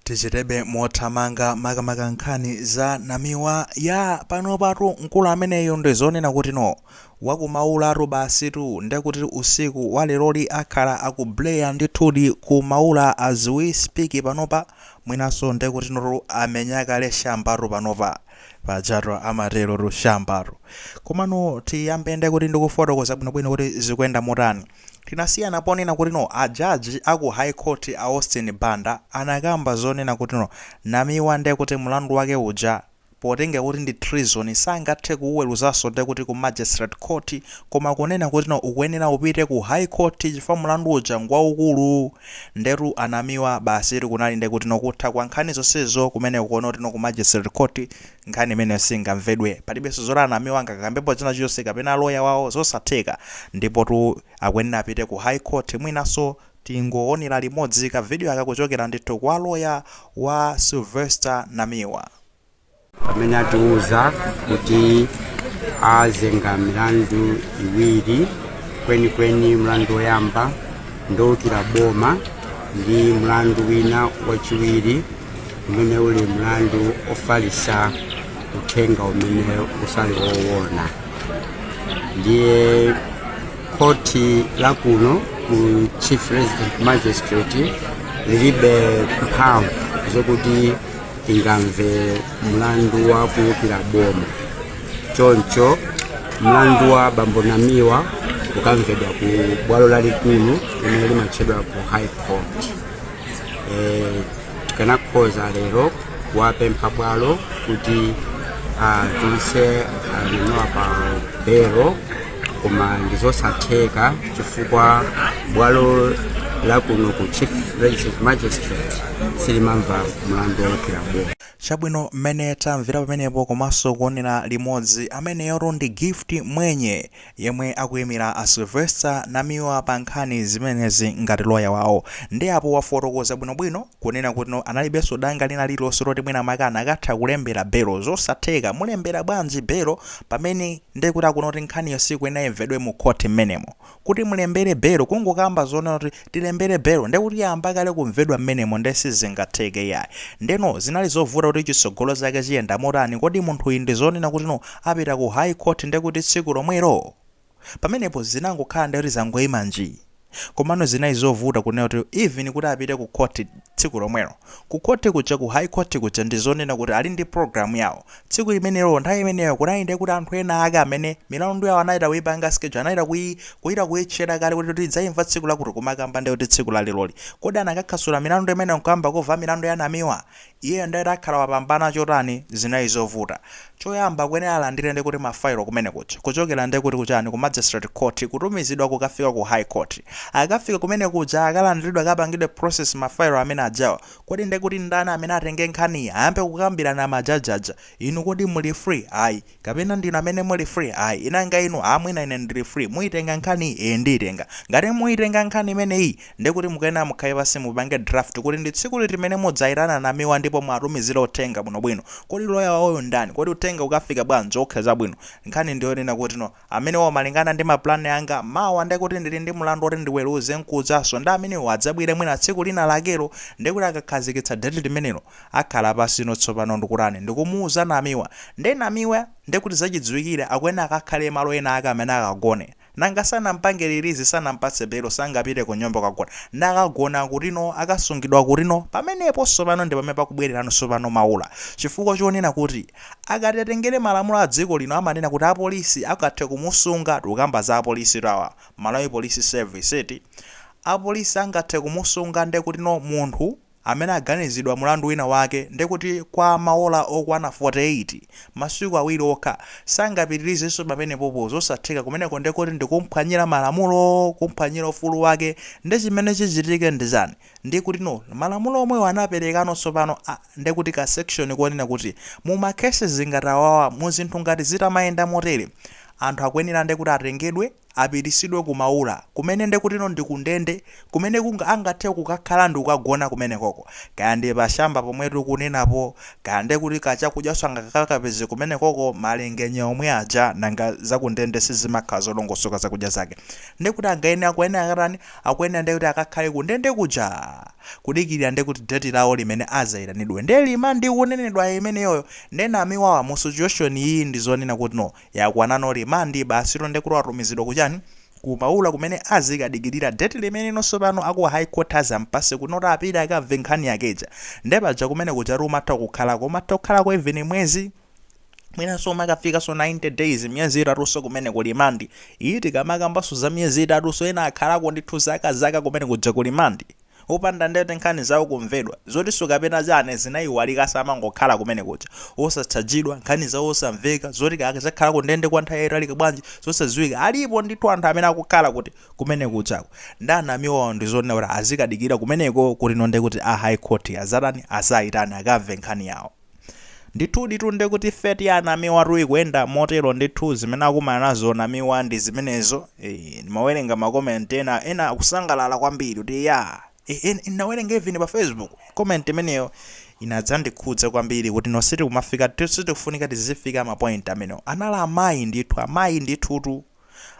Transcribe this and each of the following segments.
tichiteko mothamanga makamaka nkhani za namiwa ya panopatu mkulu ameneyo ndi zonena kuti no wa ku Maulatu basitu ndekuti usiku walerowu akhala akupuleya ndithudi ku maula as we speak panopa mwinanso ndekuti no tu amumenya kale shambatu panopa pajatu amaterotu shambatu komano tiyambe ndekuti ndikufotokoza bwinobwino kuti zikuyenda motani Tinasiyana ponena kuti no a judge a ku high court a Austin Banda anakamba zonena kuti no Namiwa nde kuti mlandu wake uja potengera kuti ndi treason sangathe kuuweruzanso nde kuti ku magistrate court koma kunena kuti no ukuyenera upite ku high court chifukwa mlandu uja ngwaukulu ndetu a Namiwa basitu kunali nde kuti no kutha kwa nkhani zonsezo kumeneko noti no ku magistrate court Nkhani imeneyo singamvedwe. Palibenso zoti a Namiwa angakambepo china chilichonse kapena loya wawo, zosatheka. Ndipotu akuyenera apite ku High Court mwinanso tingoonera limodzi kavidiyo aka kuchokera ndithu kwa loya wa Sylvester Namiwa. pamene atiuza kuti azenga milandu iwiri kwenikweni mlandu woyamba ndowukira boma ndi mlandu wina wachiwiri umene uli mlandu ofalisa uthenga umene usali owona ndiye khoti la kuno ku chief resident magistrate lilibe mphamvu zokuti ingamve mlandu wa kuwukira boma choncho mlandu wa bambo Namiwa ukamvedwa ku bwalo lalikulu limene limatchedwa kuti high court eh, tikanakhoza lero kuwapempha bwalo kuti atulutse amenewa pa belo koma ndizosatheka chifukwa bwalo lakuno ku chief resident magistrate silimva mlandu woukira boma chabwino mmene tamvera pamenepo komanso kuonera limodzi ameneyotu ndi gift mwenye Yemwe akuimira a Sylvester Namiwa pa nkhani zimenezi ngati loya wawo nde apo wafotokoza bwinobwino kunena kutino analibenso danga lina lililonse loti mwina mwake akanatha kulembera belo. Zosatheka, mulembera bwanji belo pamene nde kuti akuona kuti nkhaniyo siikuyenera imvedwe mu khothi mmenemo. Kuti mulembere belo kungokamba zoona kuti tilembere belo ndekuti yayamba kale kumvedwa mmenemo nde sizingatheke iyayi ndeno zinali zovuta kuti chitsogolo chake chiyenda motani kodi munthuyi ndizonena kuti no apita ku high court ndekuti tsiku lomwelo pamenepo zinangokhala nde kuti zangoima nji komano zinali zovuta kunena kuti even kuti apite ku court tsiku lomwelo ku court kuja ku high court kuja ndizonena kuti ali ndi program yawo Tsiku limenelo, nthawi imeneyo, kunali ndiye kuti anthu ena ake amene, milandu yawo anachita kuipanga schedule, anachita kuyi, kuchita kuyiseta kale kuti tidzaimva tsiku lakuti kumakamba ndiye kuti tsiku la leroli. Kodi anakakhasula milandu imeneyo nkuyamba kumva milandu ya Namiwa? Iyeyo ndiye kuti akhala wopambana chotani? Zinali zovuta. Choyamba, akuyenera alandire ndiye kuti ma file kumene kuja, kuchokera ndiye kuti ku chani, ku Magistrate Court, kutumizidwa kukafika ku High Court. Akakafika kumene kuja, akalandiridwe, akapangidwe process ma file amene ajawa, Kodi nde kuti ndani amene atenge nkhaniyi ayambe kukambirana ma judge aja inu kodi muli free ayi kapena ndinu amene muli free ayi nanga inu a mwina ine ndili free muitenga nkhaniyi ee ndiitenga ngati muitenga nkhani imeneyi ndekuti mukuyenera mukhale pansi mupange draft kuti ndi tsiku liti limene mudzaitana Namiwa ndipo muwatumizire uthenga bwinobwino kodi loya wawoyo ndani kodi uthenga ukafika bwanji ok chabwino nkhani ndiyonena kuti no Amenewo malingana ndi ma plan anga, mawa nde kuti ndili ndi mlandu oti ndiweruze mkujanso nde amenewo adzabwere mwina tsiku lina lakelo nde kuti akakhazikitsa date limenelo akhala pansino tsopano ndikutani ndikumuuza Namiwa nde Namiwa nde kuti zachidziwikire akuyenera akakhale malo ena ake amene akagone nanga sanampange release sanampatse belo sangapite kunyumba kukagona nde akagona kutino akasungidwa kutino pamenepo tsopano ndipamene pakubwelerano tsopano Maula chifukwa chonena kuti Akati atengere malamulo adziko lino amanena kuti apolisi angathe kumusunga tikukamba za apolisitu awa, Malawi Police Service eti, apolisi angathe kumusunga ndekutino munthu amene aganizilidwa mulandu wina wake ndekuti kwa maola okwana 48, masiku awiri okha, sangapitilizenso pamenepopo zosatheka kumeneko ndekuti ndikumphwanyila malamulo, kumphwanyila ufulu wake, nde chimene chichitike ndichani? Ndekutino malamulo omwewo anapelekano tsopano a. nde kuti ka section konena kuti mu ma cases ngati awawa mu zinthu ngati zitamayenda motere anthu akuyenera nde kuti atengedwe apitisidwe ku Maula kumene nde kutino ndi ku ndende kumene kunga angathe kukakhala ndikukagona kumenekoko kaya ndi pa shamba pomwe tikunenapo kaya nde kuti ka chakudyanso angakakapeze kumenekoko malingenya omwe aja nanga za ku ndende sizimakhala zolongosoka zakudya zake nde kuti angayenera akuyenera akatani akuyenera nde kuti akakhale ku ndende kuja kudikilira nde kuti date lawo limene azaitanidwe nde limandi ikunenedwayo imeneyoyo nde Namiwawa mu situation iyi ndi zonena kutino yakwanano remand basitu nde kuti watumizidwa ku chani ku Maula kumene azikadikilira date limeneno tsopano aku high court azampase kutino apite akamve nkhani yake ija nde paja kumene kujatu umatha kukhalako umatha kukhalako even mwezi mwinanso umakafikanso 90 days miyezi itatunso kumene ku limandi iyi tikamakambanso za miyezi itatunso ena akhalako ndithu zaka zaka kumene kuja ku limandi opanda ndekuti nkhani zawo kumvedwa zotinso kapena chani zinayiwalika amangokhala kumene kuja osatchajidwa nkhani zawo osamveka zoti kaya azakhalako ndende kwa nthawi yotalika bwanji zosadziwika alipo ndithu anthu amene akukhala kuti kumene kujako ndi a Namiwawo ndi zonena kuti azikadikira kumeneko kutino nde kuti a high court azatani azayitane akamve nkhani yawo Ndithuditu nde kuti fate ya Namiwatu ikuyenda motero ndithu zimene akumana nazo Namiwa ndi zimenezo ee ndimawerenga ma comment ena ena akusangalala kwambiri kuti yaa ee en- ndinawerenga even pa Facebook comment imeneyo inandikhudza kwambiri kuti no sitikumafika sitikufunika tizifika ma point amenewo anali amayi ndithu amayi ndithutu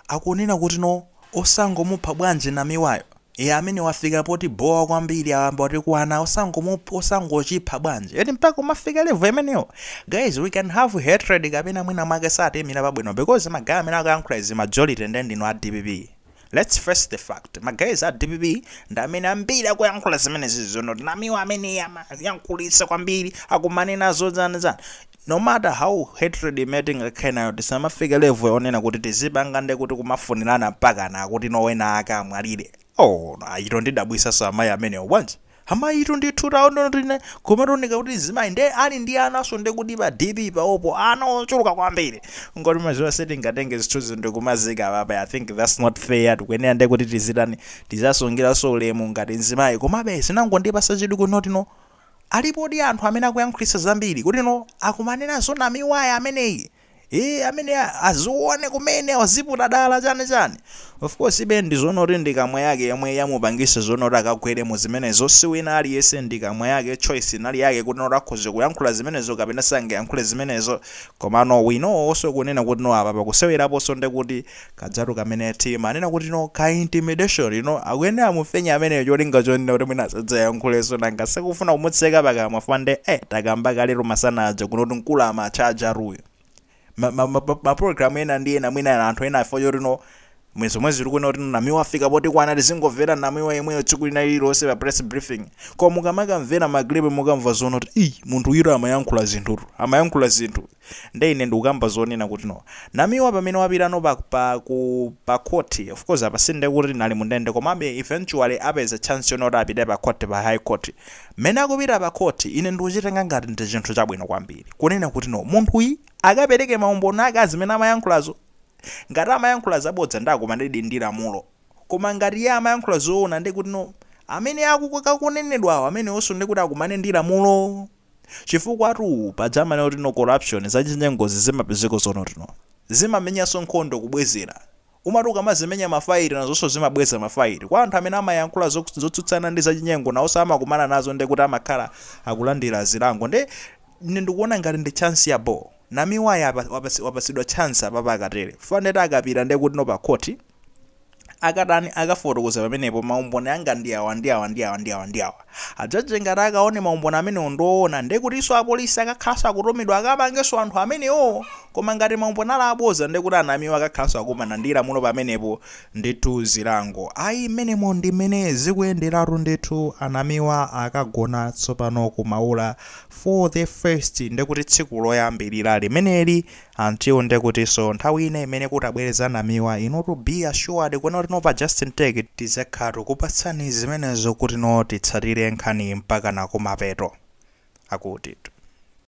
Akunena kuti no osangomupha bwanji namiwayo ee amene wafika poti bowa kwambiri ayamba watikwana osangomupha osangochipha bwanji eti mpaka umafika level imeneyo guys we can have hatred kapena mwina mwake satiimira pabwino because ma guy amene akuyankhula izi majority nde ndinu a dpp let's face the fact ma guys a dpp ndi amene ambiri akuyankhula zimenezi zonoti no namiwa amene amayankhulitsa kwambiri akumanenazo zani zani No matter how hatred imene tingakhale nayo tisamafike level yonena kuti tizipanga nde kuti kumafunirana mpakana akutino wena ake amwalire oh no ayitu andidabwitsanso amayi amenewo bwanji amayitu ndithu taondo tine kumatonika kuti zimayi nde ali ndi anaso nde kuti pa DP pawopo pali ana ochuluka kwambiri ingoti mwadziwa sitingatenge zithuzi ndikumaziika apapa I think that's not fair tikuyenera nde kuti tizitani tizasungilaso ulemu ngati mzimayi komabe zinangondipasa chidwi kunoti no Alipodi anthu amene akuyankhulitsa zambiri kuti no akumana nazo namiwayi ameneyi ee amene azione kumene waziputa dala chani chani of course ibe ndizonoti ndi kamwa yake yomwe yamupangitsa zonoti akagwere muzimenezo si wina aliyense ndi kamwa yake choice inali yake kuti no akhoza kuyankhula zimenezo kapena sangayankhule zimenezo komano we know also kunena kuti no apa pakuseweraponso ndekuti Kajatu kamene timanena kuti no ka intimidation you know akuyenera mumufinye ameneyo cholinga chonena kuti mwina asadzayankhulenso nanga sikufuna kumutseka pakamwa chifukwa nde eh takamba kaletu masana aja kunoti mkulu amatcha ajatuyo ma, ma, ma, ma program ena ndi ena mwina anthu ena afo choti no mwe zomwe zili kuona kuti namiwa afika potikwana tizingomvera namiwa yemweyo tsiku lina lililonse pa press briefing koma mukamakamvera ma group mukamva zoona kuti ayi munthu uyo amayankhula zinthutu amayankhula zinthu nde ine ndukamba zonena kuti no namiwa pamene wapita no pa pa ku pa court of course apa sindekuti ali mundende komabe eventually apeza chance yonoti apite pa court pa high court mene akupita pa court ine ndikuchitenga ngati ndi chinthu chabwino kwambiri kunena kuti no munthuyi akapereke maumboni ake a zimene amayankhulazo ngati amayankhula zabodza nde akumanedi ndi lamulo koma ngati iye amayankhula zoona ndekuti no amene akukanenedwawo amenewonso ndekuti akumane ndi lamulo Chifukwatu paja amanena kuti no corruption, zachinyengozi zimapezeka zonoti no. Zimamenyanso nkhondo kubwezera. Umati ukamazimenya ma fight nazonso zimabweza ma fight. Kwa anthu amene amayankhula zotsutsana ndi zachinyengo nawonso amakumana nazo ndiye kuti amakhala akulandira zilango ndiye ine ndikuona ngati ndi chance yabhoo. Namiwayi apa wapatsidwa chance apapa akatere chifukwa ndiyeti akapita ndiyekuti no pa court. akatani akafotokoza pamenepo maumboni anga ndi awa ndi awa ndi awa ndi awa ndi awa a judge ngati akaone maumboni amenewo ndoona ndiye kutinso apolisi akakhalanso akutumidwa akapangenso anthu amenewo koma ngati maumboni ali aboza ndiye kuti anamiwa akakhalanso akumana ndi lamulo pamenepo ndithu zilango, ayi mmenemo ndi mmene zikuyenderatu ndithu anamiwa akagona tsopano kumaula for the first ndiye kuti tsiku loyambirira limeneli Until nde kuti so nthawi ina imene kutabwere za Namiwa inutu be assured kuti tonse pa just in take it tizakhala tukupatsani zimenezo kuti no titsatire nkhaniyi mpakana kumapeto. Akutitu.